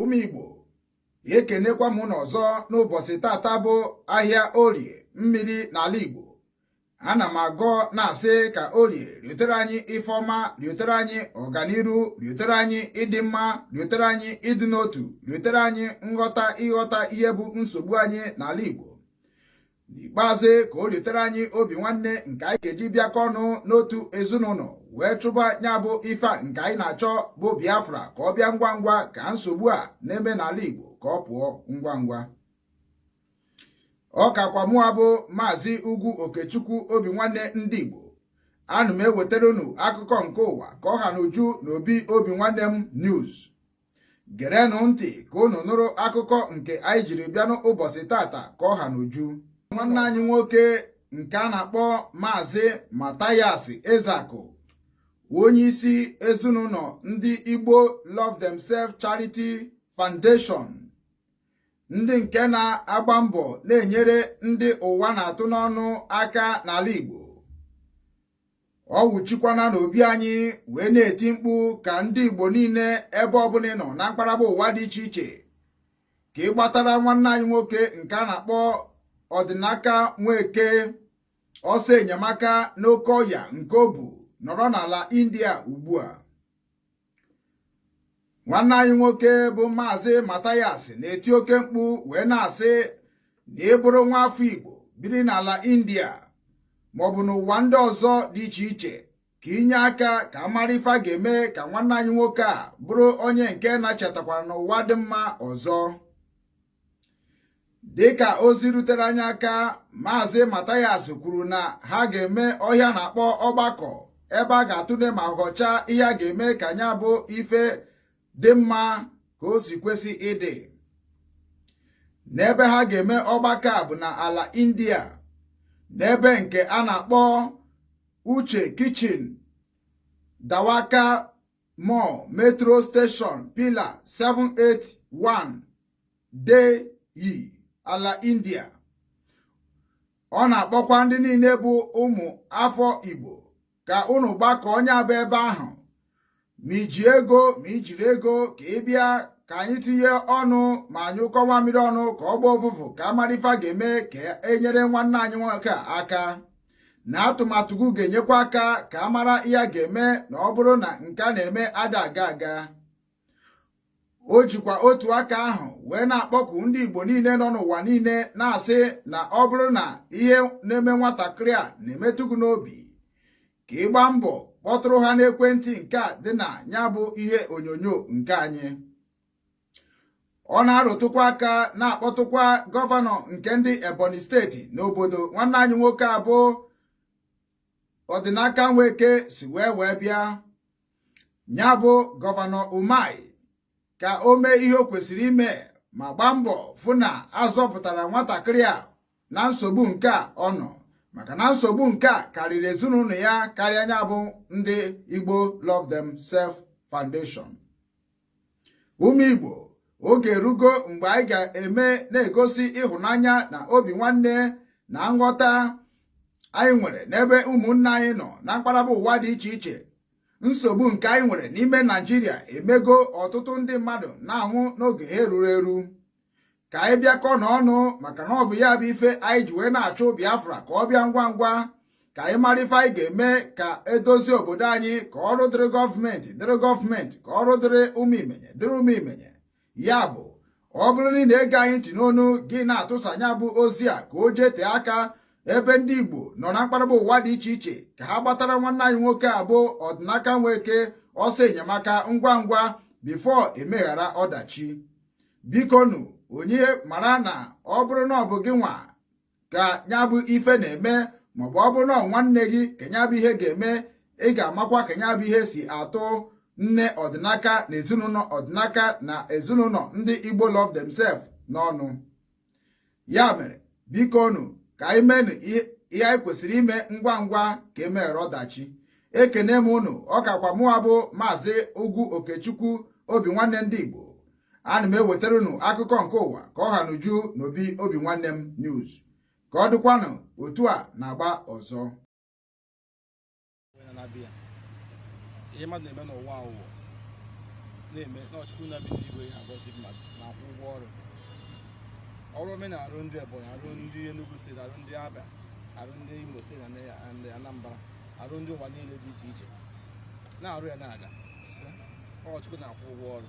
ụmụ Igbo ekenekwa m unu ọzọ n'ụbọchị tata bụ ahịa orie mmiri n'ala Igbo ana m agọ na-asị ka orie riotere anyị ife ọma riotere anyị ọganiru riotere anyị ịdị mma riotere anyị ịdị n'otu riotere anyị nghọta ịghọta ihe bụ nsogbu anyị n'ala Igbo n'ikpeazụ ka o riotere anyị obi nwanne nke anyị ga-eji bịakọ ọnụ n'otu ezinụlọ wee chụba ya bụ ife nke anyị na-achọ bụ Biafra ka ọ bịa ngwa ngwa ka nsogbu a na-eme n'ala Igbo ka ọ pụọ ngwa ngwa ọ kakwa mụwa bụ maazị Ugwu Okechukwu obi nwanne ndị Igbo ana m ewetara unu akụkọ nke ụwa ka ọ ha n'uju na obi obi nwanne m news gerenụ ntị ka unu nụrụ akụkọ nke anyị jiri bịa n'ụbọchị tata ka ọ ha n'uju nwanne anyị nwoke nke a na-akpọ maazị Mathias Ezeaku onye isi ezinụlọ ndị Igbo Love Themselves Charity Foundation ndị nke na-agba mbọ na-enyere ndị ụwa na-atụ n'ọnụ aka n'ala Igbo ọ wụchikwana n'obi anyị wee na-eti mkpu ka ndị Igbo niile ebe ọbụla ị nọ na mkpaghara ụwa dị iche iche ka ị gbatara nwanne anyị nwoke nke a na-akpọ Ọdịnaka Nweke ọsọ enyemaka n'oke ọya nke o bu nọrọ n'ala India ugbu a nwanne anyị nwoke bụ maazị Mathias na-eti oke mkpu wee na-asị na ị bụrụ nwa afọ Igbo biri n'ala India maọbụ n'ụwa ndị ọzọ dị iche iche ka i nye aka ka a mara ife a ga-eme ka nwanne anyị nwoke a bụrụ onye nke na-echetakwara n'ụwa dị mma ọzọ dịka ozi rutere anyị aka maazị Mathias kwuru na ha ga-eme ihe a na-akpọ ọgbakọ ebe a ga-atụle ma ghọcha ihe a ga-eme ka nya bụ ife dị mma ka o si kwesị ịdị n'ebe ha ga-eme ọgbakọ a bụ na ala India n'ebe nke a na-akpọ Uche Kitchen Dwarka Mor Metro Station Pillar 781 Delhi ala India ọ na-akpọkwa ndị niile bụ ụmụ afọ Igbo ka unu gbakọọ nya bụ ebe ahụ ma i ji ego ma i jiro ego ka ị bịa ka anyị tinye ọnụ ma nyụkọọ mamịrị ọnụ ka ọ gbaa ụfụfụ ka a mara ife a ga-eme ka e nyere nwanne anyị nwoke aka na atụmatụ gị ga-enyekwa aka ka a mara ihe a ga-eme na ọ bụrụ na nke a na-eme ada aga aga o jikwa otu aka ahụ wee na-akpọku ndị Igbo niile nọ n'ụwa niile na-asị na ọ bụrụ na ihe na-eme nwatakịrị a na-emetụ gị n'obi ka ị gbaa mbọ kpọtụrụ ha n'ekwentị nke a dị na ya bụ ihe onyonyo nke anyị ọ na-arụtụkwa aka na-akpọtụkwa gọvanọ nke ndị ebonyi steeti n'obodo nwanne anyị nwoke a bụ ọdịnaka nweke si wee wee bịa ya bụ gọvanọ umahi ka o mee ihe o kwesịrị ime ma gbaa mbọ fụ na a zọpụtara nwatakịrị a na nsogbu nke a ọ nọ maka na nsogbu nke a karịrị ezinụlọ ya karịa nya bụ ndị Igbo Love Themselves Foundation ụmụ Igbo oge erugo mgbe anyị ga-eme na-egosi ịhụnanya na obi nwanne na nghọta anyị nwere n'ebe ụmụnne anyị nọ na mpaghara ụwa dị iche iche nsogbu nke anyị nwere n'ime Naijiria emego ọtụtụ ndị mmadụ na-anwụ n'oge ha eruro eru ka anyị bịakọ n'ọnụ maka na ọ bụ ya bụ ife anyị ji wee na-achọ Biafra ka ọ bịa ngwa ngwa ka anyị mara ife anyị ga-eme ka e dozie obodo anyị ka ọrụ dịrị gọọmenti dịrị gọọmenti ka ọrụ dịrị ụmụ imenye dịrị ụmụ imenye ya bụ ọ bụrụ na ị na-ege anyị ntị n'onu gị na-atụsa nya bụ ozi a ka o jee tee aka ebe ndị Igbo nọ na mpaghara ụwa dị iche iche ka ha gbatara nwanne anyị nwoke a bụ ọdịnaka nweke ọsọ enyemaka ngwa ngwa before emeghara ọdachi bikonu onye mara na ọ bụrụ na ọ bụ gị nwa ka ya bụ ife na-eme maọbụ ọ bụrụ na ọ bụ nwanne gị ka ya bụ ihe ga-eme ị ga-amakwa ka ya bụ ihe si atụ nne ọdịnaka na ezinụlọ ọdịnaka na ezinụlọ ndị Igbo love themselves n'ọnụ ya mere biko nụ ka anyị menụ ihe anyị kwesịrị ime ngwa ngwa ka emeghara ọdachi ekene m unu ọ kakwa mụwa bụ maazị ugwu okechukwu obi nwanne ndị igbo ana m ewetara unu akụkọ nke ụwa ka ọ ha n'uju n'obi obi nwanne m news ka ọ dịkwanụ otu a n'agba ọzọ na-abịa ihe mmadụ na-eme n'ụwa a wụ ụwa na-eme na ọ chukwu na-ebi n'igwe agọzi mmadụ na-akwụ ụgwọ ọrụ ọrụ omenala arụ ndị ebonyi arụ ndị enugu steeti arụ ndị abia arụ ndị imo steeti na anambra arụ ndị ụwa niile dị iche iche na-arụ ya na-aga ọ chukwu na-akwụ ụgwọ ọrụ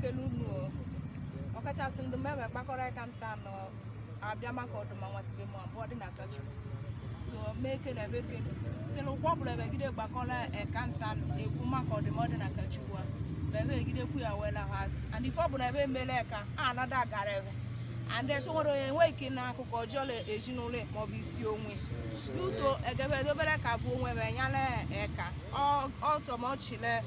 kele unu ọkachasị ndị mgbe gbakọrọ aka nta nọ abịa maka ọdụmma nwatube ma bụ Ọdịnakachi so mee kele ebe kele si na ụkwụ ọbụla ebegide gbakọrọ eka nta ekwu maka ọdụmma Ọdịnakachi wa ebe egide kwu ya wela ha asị and ife ọbụla ebe emele ka a anada agara ebe and efe nwere onye enwe ike na akụkọ ọjọọ le ezinụlọ ya maọbụ isi onwe n'udo egebe edobere ka bụ onwe ebe nyala eka ọ- ọ tọmọchile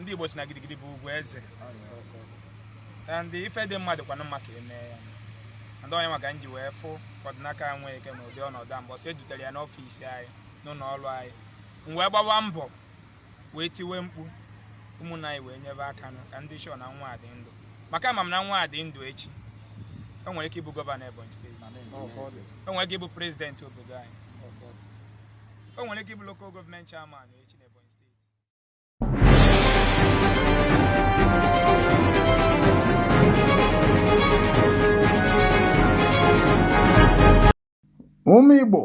ndị Igbo si na gidigidi bụ ugwu eze and ife dị mmadụ kwanụ mma ka eme ya and ọ nya maka nji wee fụ Ọdịnaka Nweke n'ụdị ọnọdụ a mbọsị edutere ya n'ọfịs anyị n'ụlọ ọrụ anyị m wee gbawa mbọ wee tiwe mkpu ụmụnna anyị wee nyebe aka nụ ka m dị sure na nwa a dị ndụ maka ama m na nwa a dị ndụ echi o nwere ike ịbụ gọvanọ Ebonyi steeti o nwere ike ịbụ prezidenti obodo anyị o nwere ike ịbụ local gọọmenti chairman echi na Ebonyi steeti ụmụ Igbo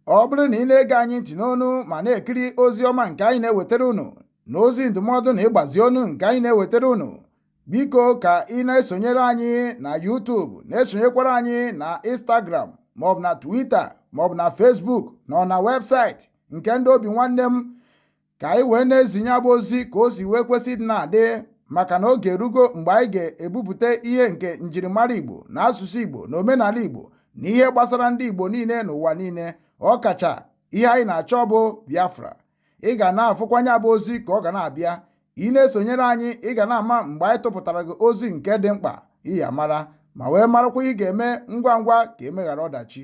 ọ bụrụ na ị na-ege anyị ntị n'ọnụ ma na-ekiri ozi ọma nke anyị na-ewetara unu na ozi ndụmọdụ na ịgbazi ọnụ nke anyị na-ewetara unu Biko ka ị na-esonyere anyị na YouTube na-esonyekwara anyị na Instagram maọbụ na Twitter maọbụ na Facebook na ọ na webụsaịtị nke ndị Obinwannem ka anyị wee na-ezinye ya bụ ozi ka o si wee kwesị dị na-adị maka na oge erugo mgbe anyị ga-ebupụta ihe nke njirimara Igbo na asụsụ Igbo na omenala Igbo na ihe gbasara ndị Igbo niile n'ụwa niile ọkacha ihe anyị na-achọ bụ Biafra ị ga na-afụkwa ya bụ ozi ka ọ ga na-abịa ị na-esonyere anyị ị ga na-ama mgbe anyị tụpụtara gị ozi nke dị mkpa ị ya-amara ma wee marakwa ị ga-eme ngwa ngwa ka emeghara ọdachi